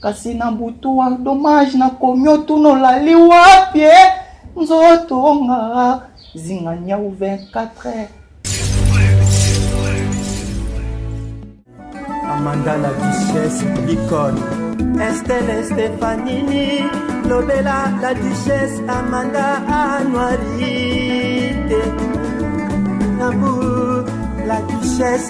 kasi na butu wa dommage nakomi otuna olali wapi eh? nzoto nga zinga nyau 24 heures amanda la duchesse l'icône estelle stefanini lobela la duchesse amanda anuarite nabu la duchesse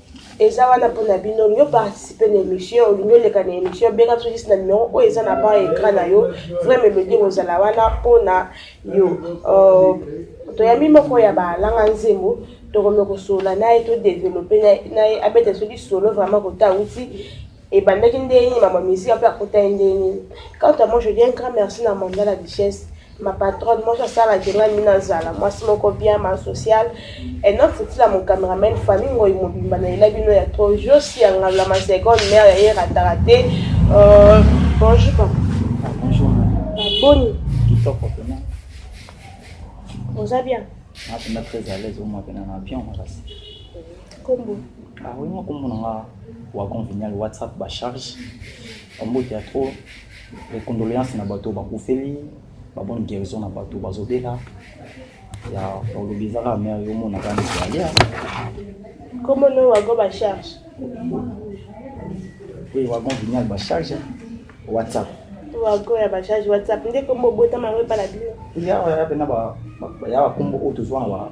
eza wana mpo na bino olingi oparticipe na émission olingi oleka na émission benga biso juste na numero oyo eza na ba écran na yo vrai melodie kozala wana mpo na yo euh, toyambi moko ya balanga nzembo tokomi kosolola na ye todevelope na ye abeta soki solo vraiment kota auti ebandaki ndenge nini mama misika mpe akotaki ndenge nini quant à moi je dis un grand merci na mandala duchesse ma patronne moi j'asala que ngai mina zala mwasi moko bien ma social et non futila mon cameraman famille ngoi mobimba na ela bino ya trop josi ya ngabla ma seconde mère ya ye rataka te euh, bonjour papa ah, bonjour boni kitoko pena oza bien napenda ah, très à l'aise omwa pena na bien makasi kombo ah oui mwa kombo na nga wagon vignal whatsapp bacharge ombote ya trop Les condoléances na bato bakufeli, ba bonne guérison na bato bazobela. Ya olobi ezaka mère yo mona kani alia. Comment nous wago ba charge? Oui, wago vignal ba charge. WhatsApp. Wago ya ba charge WhatsApp. Ndeko mobota mango pa la bio. Ya ya pena ba ya ba kombo oyo tozwa na ba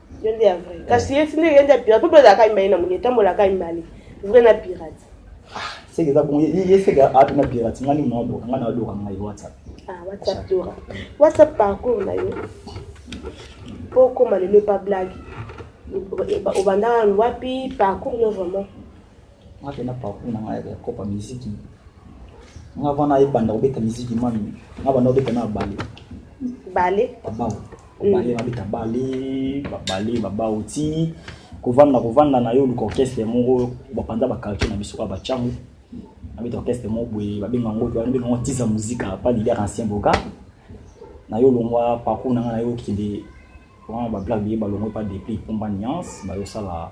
yo nde ya vrai eh. kasi ye tinde ye nde ya pirate mpo ezalaka imali na moni etambolaka imali vrai na pirate ah, seke eza bongo ye seke ato na pirate nga nini naodoka nga naodoka ngai whatsapp ah, whatsapp dora whatsapp parcours na yo mpo okoma lelo epa blague obandaka wapi parcours no vraiment nga mpe na parcours na ngai ya kopa miziki nga vana ebanda kobeta miziki mami nga banda kobeta na bale bale babao mm. bale babeta bale babale babao ti kovanda kovanda na yo luka orchestre moko bapanza bakartier na biso kaka bacango abeta orchestre moko boye babenga yango wana benga yango tiza muzika pa leader ancien boka na yo longwa parcours na nga na yo okende wana bablack biye balongwe pa deplic pomba nuance bayosala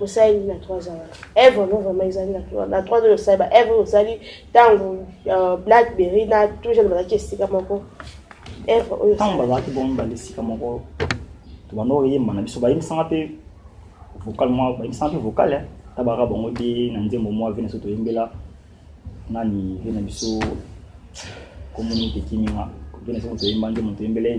osaleli na trois ans wana eve yango vraiment ezali na trois ans osali ba eve osali ntango euh, blackberry na tout jeune bazalaki esika moko eve oyo ntango bazalaki bongo mibale esika moko tobanda oyemba na biso bayembisanga mpe vocal mwa bayembisanga mpe vocal tabaka bango te na nzembo mwa ve na biso toyembela nani ve na biso komoni tekiminga ve na biso toyemba nzembo toyembela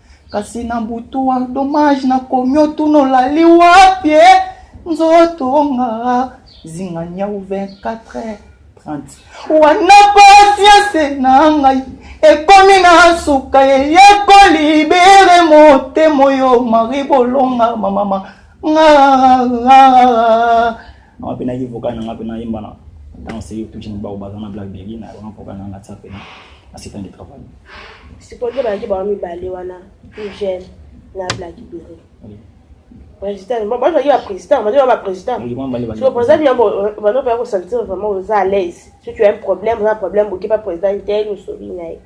kasi na butu wa dommage na komi otuna olali wapi eh? nzoto nga zinga nyau 24 30 wana pasianse na ngai ekomi na suka eyeko libere motema oyo mari bolonga mamama nga Nanga pe naki vocal nanga pe nayemba na ntango seki touche mibao baza na black baby na yango na vocal nanga tia pena na setan de travail supporte balaki bango mibale wana tout jeune na black baby président bazalaki baprésident bazali baprésident soko président yango bano mpe akosentir vraiment oza à l'aise soki oya problème oza problème bokepa président te nosolina ye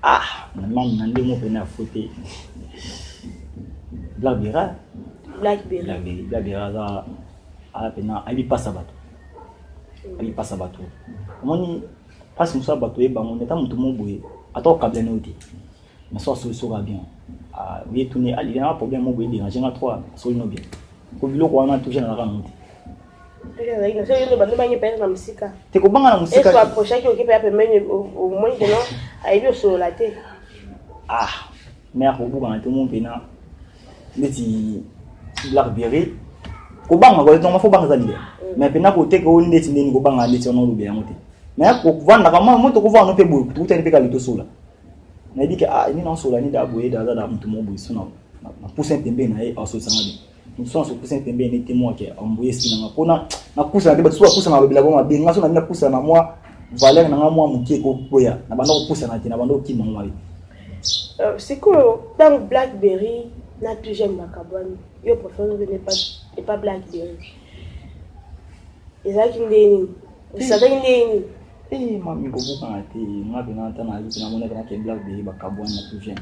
Ah, maman, na ndenge moko na faute. Black Bera. Black Bera. Black Bera aza aza pena ali pasa bato. Ali pasa bato. Omoni pasi mosusu bato ye bango neta moto mo boye ata okabla na yo te mais so asoli soka bien oye tuni alingana problème mo boye dérange nga trois asoli no bien ko biloko wana toujours nazalaka nango te te kobanga na mosikaapprochaki okipe ya pembeni omoni keno ayebi osolola te ah me akobukana te mo mpena ndeti black berry kobanga koletongama fo banga eza liya me mpena koteka oyo ndeti ndeni kobanga ndeti wana olobe yango te me kovandaka mwa moto kovanda mpe boye kutani mpe kali tosola nayebi ke ah nini aosola nini da boye da aza da moto moko boye so na pousin pembeni na ye aosolisanga bien mosusu asopesa pembeni nde temoi ke ambuye esi nanga mpona napusana te basusu bapusana alobela bango mabe nga so nabina pusana na mwa valeur na nga mwa moke ekokweya na banda kopusana te na banda kokima ngo mabe euh, sikoyo ntango blackberry na tujeme bakabwani yo professeur ozobende epa blackberry ezalaki nde nini osazaki nde nini ee eh, mami kobukana te nga mpenza ata nayebi mpe namonaki na ke blackberry bakabwani na tujeme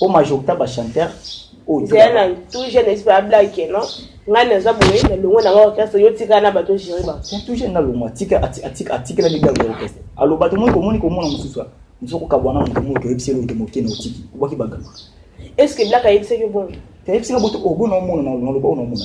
o majorité ba chanteur oyo zela na tout jeune esprit a blague non ngai naza boye na longo na orchestre yo tika na bato gérer ba c'est tout jeune na longo atika atika atika la bidago ya orchestre alo bato moi ko moni ko mona mususu mususu ko kabwana mutu moi ko yebiselo to moke na otiki obaki bagama est ce que blague ayebisaki bongo tayebisaka boto obona omona na loba ona omona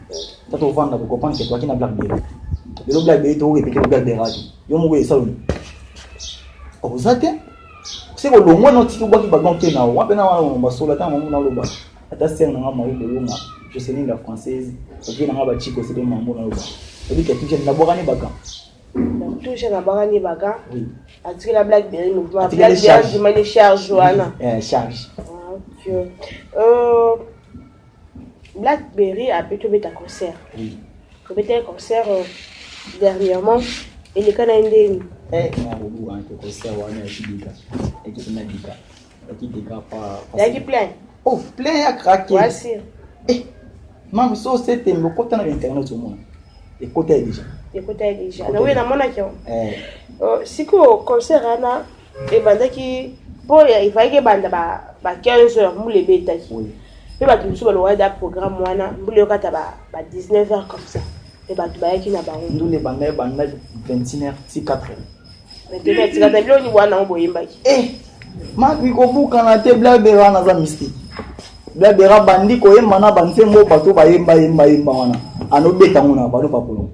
ta to vanda ko comprendre que toi qui na black bebe le lo black bebe to repete le black bebe yo mo ye sauni ko zate se ko longwa no tiki bwa ki ba gon te na wa pe na wa ba sola ta mo na lo ba ata sœur na nga mari bolonga je sais ni la française vie na nga ba chiko c'est mambo na lo ba ebi ke tuje na bokani baka tuje na bokani baka atikela black bebe mo black bebe je mane charge wana charge ah, ok euh Blackberry a pu tobeta concert. Oui. Tobeta concert euh, dernièrement. eleka na ye ndeni eh, yaki plein oh plein ya krake eh, mama so setembe okota na internet omona ekota ye deja ekota ye deja na oyo namonaki yango eh. oh, sikoyo concert wana ebandaki mpo efalaki ebanda ba 15 heures mbula ebetaki mpe bato mosusu balongaki da programme wana mbula eyokata ba 19 heures comme ça mpe bato bayaki na bango ndule ebanda ebanda 21 heures ti 4 heures maintenant etikata biloko nini bwana yango boyembaki eh, makoki kobukana te blabera wana aza mystique blabera bandi koyemba na banzembo bato bayemba yemba yemba wana anobeta ngo na bano bakolonga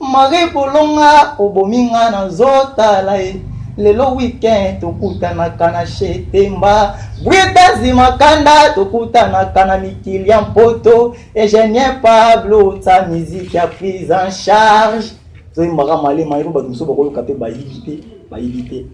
Marie bolonga obomi nga na zotala ye lelo weekend tokutanaka na shetemba bwetazi makanda tokutanaka na mikili ya mpoto egenier pablo ta miziki ya prise en charge toyembaka malema yeko bato mosusu bakoyoka mpe bayibi te bayibi te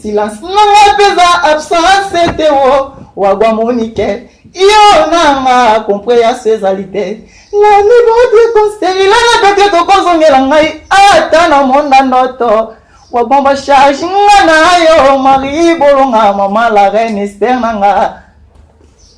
Silence nanga peza absence te o oh, wagwa monike yo nanga comprehension ezali te na niveau de conseil lana pete tokozongela ngai ata na monda ndoto wabomba charge nga na yo marie bolonga mama la reine ester nanga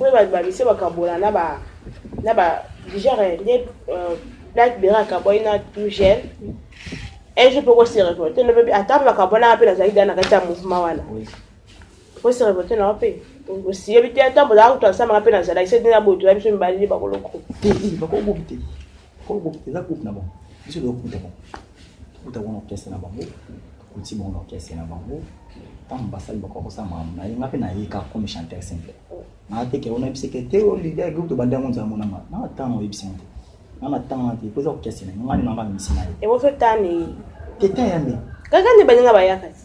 oyo bababisi bakabola na ba na ba genre nde euh, black bera akabwaki na tout gel un jour mpe kose revolte no mpe ata bakabwanaka mpe nazalaki dana kati ya mouvement wana kose revolte nao mpe osiyebi te ata bozalaka kutu asamaka mpe nazalaki se dina boye toza biso mibali nde bakoloko koko eza groupe na bango biso tokuta bango tokuta bango na orchestre na bango tokuti bango na orchestre na bango ntango basali bakoka kosala makambo na ye nga mpe nayeka comme chanteur simple naa te ke onayebisi ke te olide oh, groupe tobandi yango nzala monanga na ntango oyebisi yango te nga na ntango na te mpo eza orchestre na ye nga nde nanga misi na ye te te ya nde kaka nde baninga bayaka te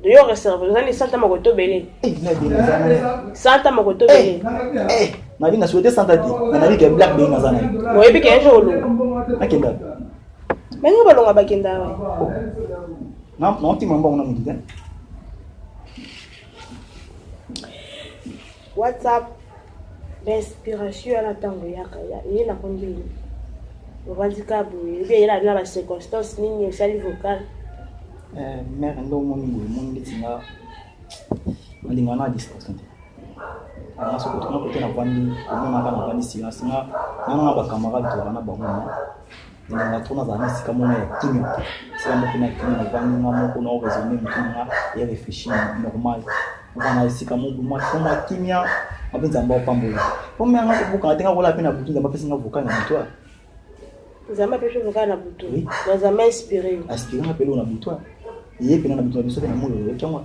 Yo reserve, ozali santa moko tobele. Eh, na dina zana. Santa moko tobele. Eh, eh na dina souhaité santa ti. Na nabi ke black dina zana. Mo ebi ke njo lu. Akenda. Mais ngo balonga bakenda wa. Oh. Na na ntima mbango na mudite. WhatsApp ba inspiration wana ntango eyaka eye na kondeli ovandi ka boye ebi eyela na ba circonstance nini osali vocal eh, mare nde omoni boye moni ndeti nga nalinga na distraction te aa soki otuna kote navandi omonaka navandi silence nga nanga bacamarade tolaka na bango nalingaka trop nazala na esika moko ya kimia esika moko na kimia navandi nga moko na oraisonne motu na nga ya réfléchir normal oza na esika moko mwa kimia ape nzambe apambola pome yanga kobukana te nga kola mpe na butu nzambe apesi nga vocal na butu nzambe apesi vocal na butu nzambe inspiré inspiré nga mpe loo na butu ye mpe na na butu na biso mpe na mololo yoki yango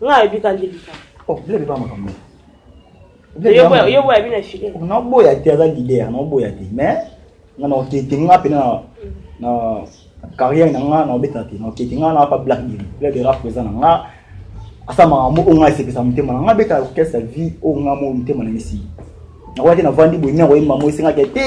Nga ayebi ka nde bika. Oh, bile beba makambo. Yo boya, yo boya bina file. Nga boya te aza leader, nga boya te. Mais nga na okete nga pena na carrière na nga na obeta te. Na okete nga na pa black bile. Bile bera présent na nga. Asa makambo o nga esepesa motema na nga beta orchestre vie o nga mo motema na misi. Nakwaki na vandi boye na koyemba mo esengaki te.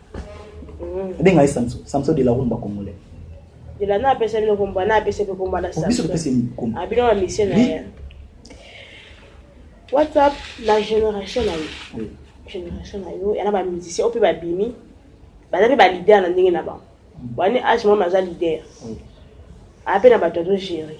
benga ye samso samso de la rumba congolais ela na apesa bino komba na apesa pe komba na oh, samso ah, bino ba misie na ye whatsapp na génération na yo génération na yo yana ba musicien oyo mpe babimi baza mpe balider na ndenge na bango mm. bani age mama aza lider ape na bato azogere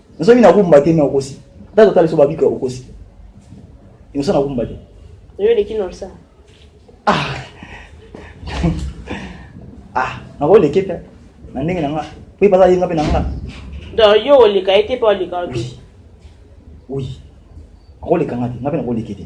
Nazo mina kumba te na okosi. Ata totale so babika okosi. Inosa na kumba te. Yo leki na osa. Ah. ah, na ko leki pe. Na ndenge na nga. Pe pasa yenga pe na nga. Donc yo oleka ete pe oleka ote. Oui. Ako leka nga te, nga pe na ko leki te.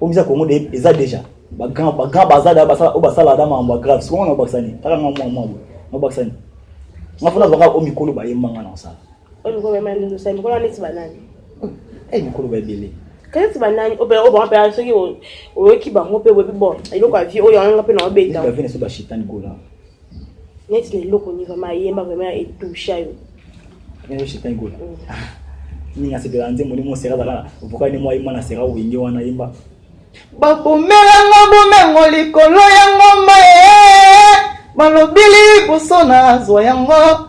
Komisa Congo de eza deja ba grand ba grand bazada basala o basala da mambo grave siko na bakisani taka mwa mwa mwa na bakisani na fona baka o mikolo ba yemba ngana osala o mikolo ba mani ndo sai mikolo neti banani eh mikolo ba ebele kaneti banani obe o ba pe soki oyoki bango pe webi bon eloko ya vie oyo anga pe na obeta ba vie na so ba shitani gola neti na eloko ni vraimen ayemba vraimen etusha yo ninga sepela nzembo ni mosera azalaka voka ni mwa yemba na sera wenge wana yemba bakomelanga bomengo likolo ya ngomba e eh, balobili liboso nazwa yango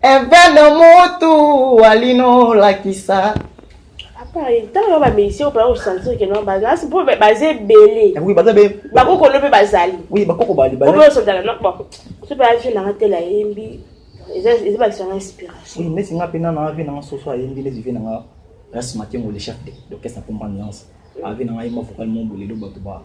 Evene mutu walino lakisa. ntango ba musicien opala kosentir ke nabasi mpo baza ebele bakokolo mpe bazali obeosodala noko so mpe avi nanga tela eyembi eza bakisa nga inspiration nesi nga mpe nana avi nanga soso ayembi nesi vi nanga rasmatiengo le chef d'orchestre mpo mba nuance avi nanga yemba vocal mo bolelo bato ba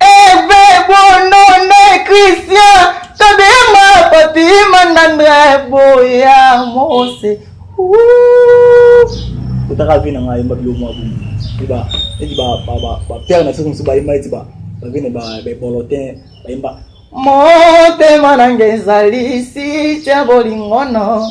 Eve bonone Christian tobima papi mandandre boya mose kotaka vi na ngai ayemba bilo mwa bomo eba eti bapere na biso mosusu bayemba eti bavene babolotin bayemba motema nanga ezali si tya bolingono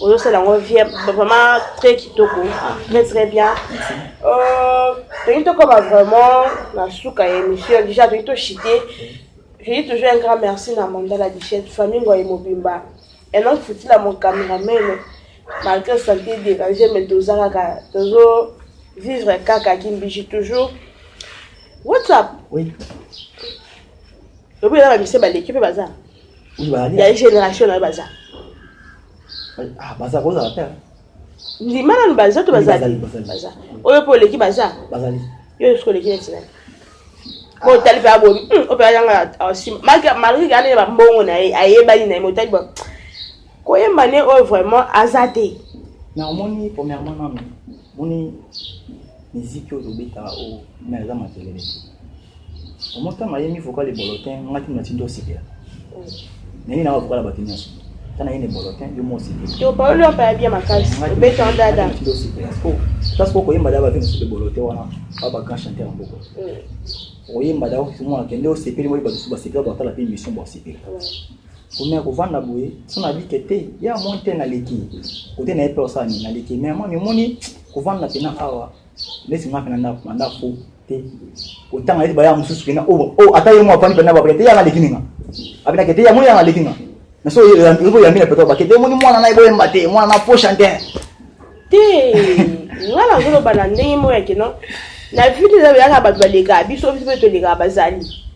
ozosala yango vie vraiment très kitoko très très bien euh, tolingi tokoma vraiment na suka ya émission déjà tolingi toshite je dis toujours un grand merci na mandala dichette famille ngoye mobimba et donc futila mon cameraman malgré santé dérangé mais toza kaka tozo vivre kaka kimbishi toujours whatsapp oui lobi eza bamisi baleki mpe baza ya génération na yo baza ah, baza kozala te ndima nanu baza to bazali baza oyo mpe oleki baza bazali yo nyonso oleki neti nani ah. motali mpe abomi hmm, oyo mpe ayanga asima malgré kaka ndenge bambongo na ye ayebani na ye motali Koyemba ne oyo vraiment aza te. Na omoni premièrement nanu moni miziki oyo tobetaka oyo na eza makelele te omota mayemi vocal ebolotin ngati natindo osepela nani na vocal ya bato nyonso ta nayeni ebolotin yo mo osepelaopaloli oyo paya bia makasi obeta ndada natindo osepela place po koyemba daba vi mosusu ebolote wana ba ba grand chanteur ya mboko oyemba daba mwana kende osepeli moyi bato mosusu basepela bakotala mpe émission bosepela komea kovanda boye so na bike te ya moi te naleki kote na ye mpe osala nini naleki me moi mimoni kovanda mpena awa neti nga mpe na ndako na ndako te kotanga neti baya mosusu mpena o oh, oh, ata ye mwa afandi mpena babake te yanga aleki ninga abinake te ya moi yanga aleki nga na so ekoyambi na peto bake te omoni mwana na ye boyemba te mwana na prochain te te nga nazoloba na ndenge moyake no na vie te eza yaka bato balekaka biso biso mpe tolekaka bazali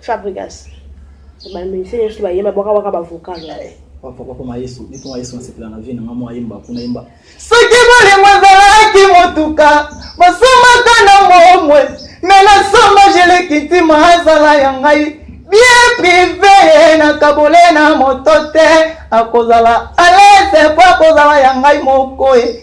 Fabrigas. Ba musiciens yesu ba yema boka waka ba vocal. Papa papa ma yesu, ni papa yesu nsepela na vie na mama yemba kuna yemba. Soki bolingo ezalaki motuka, bosomaka na momwe, me na soma jeleki ntima azala ya ngai bien prive na kabole na moto te akozala alese po akozala ya ngai moko e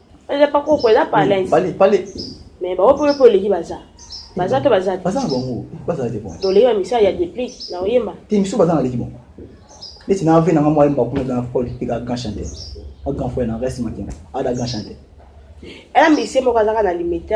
eza pa koko eza pa alain pale pale mais ba opo opo leki baza baza to baza te baza bango baza te bon toleki ba misala ya deplic na oyemba te misu baza na leki bon neti na ave nanga mwa yemba kuna eza na fol tika grand chanteur a grand frère na reste makenga ada grand chanteur ela misi moko azaka na limite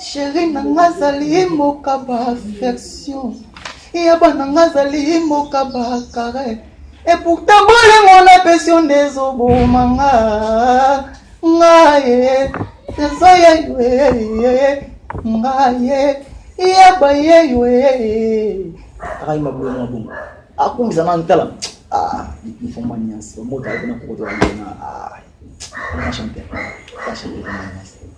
Chérie na nga azali mokaba affection ya bana nga azali mokaba kare et pourtant bolingo na pesi yo nde ezoboma nga nga ye ezo ya yo nga ye ya baye yo akai mabolo na bongo akungisa na ntala ah mfomba nyasi omota kuna kokotola na ah na chanter na chanter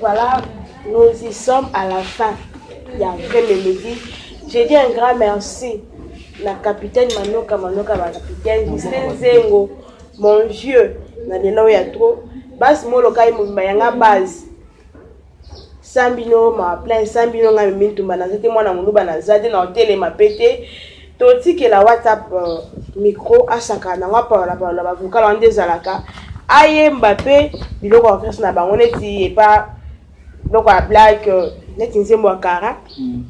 Voilà, nous y sommes à la fin. Il y a vrai mélodie. J'ai dit un grand merci la capitaine Manoka Manoka, la capitaine Justin Zengo, mon vieux, na lelo ya trop. Bas molokai mumba yanga base. sans bino ma plein sans bino ngai mimi ntumba naza te mwana moluba naza te na otelema mpe te totikela whatsapp euh, micro asaka nango apalola palola bavokal wana nde ezalaka ayemba mpe biloko ya orchestre na bango neti epa biloko ya black euh, neti nzembo ya kara mm.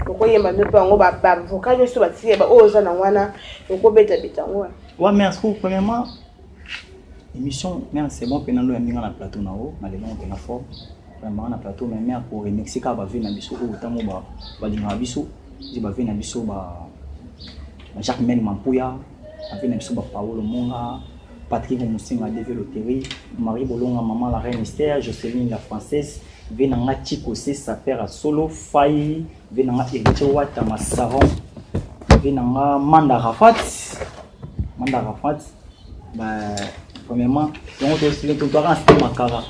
okoyemba mpe yango bavokal nyonso batikela baoyo oza nango wana okobetabeta yango wana wa merci premièrement Émission, mère, c'est bon, pena lo yambinga na plateau na o, na lelo pena fort. Vraiment na plateau mais mère pour remixer ka ba vie na biso o tango ba ba linga biso, je ba vie na biso ba ba Jacques Mel Mampuya, ba vie na biso ba Paolo Monga, Patrick Musinga Deve Loterie, Marie Bolonga Maman la Reine Esther, Jocelyn la Française, vie na nga Chico c'est sa père à solo, Faye, vie na nga Héritier Wata Masaron, vie na nga Manda Rafat, manda arafat ba premièrement yango totwaka na site makara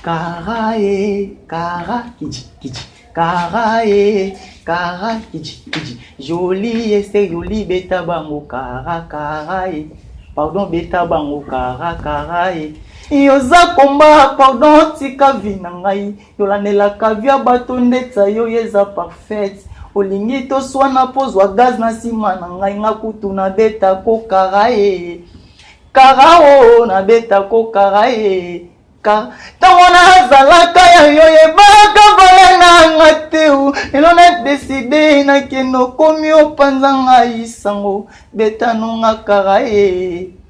kara e kara kici kici kara e kara kici kici joli ese joli beta bango kara kara e pardon beta bango kara kara e yoza komba pardon tika vi na ngai tolandela kavia bato ndetsa yo ye eza parfaite olingi toswana mpo zwa gaz na nsima na ngai nga kutu nabeta kokara ye kara o nabeta kokara ye ntango nazalaka ya yo yebaka vale nanga te lelo nadeside nakende okomi opanza ngai sango betanonga kara ye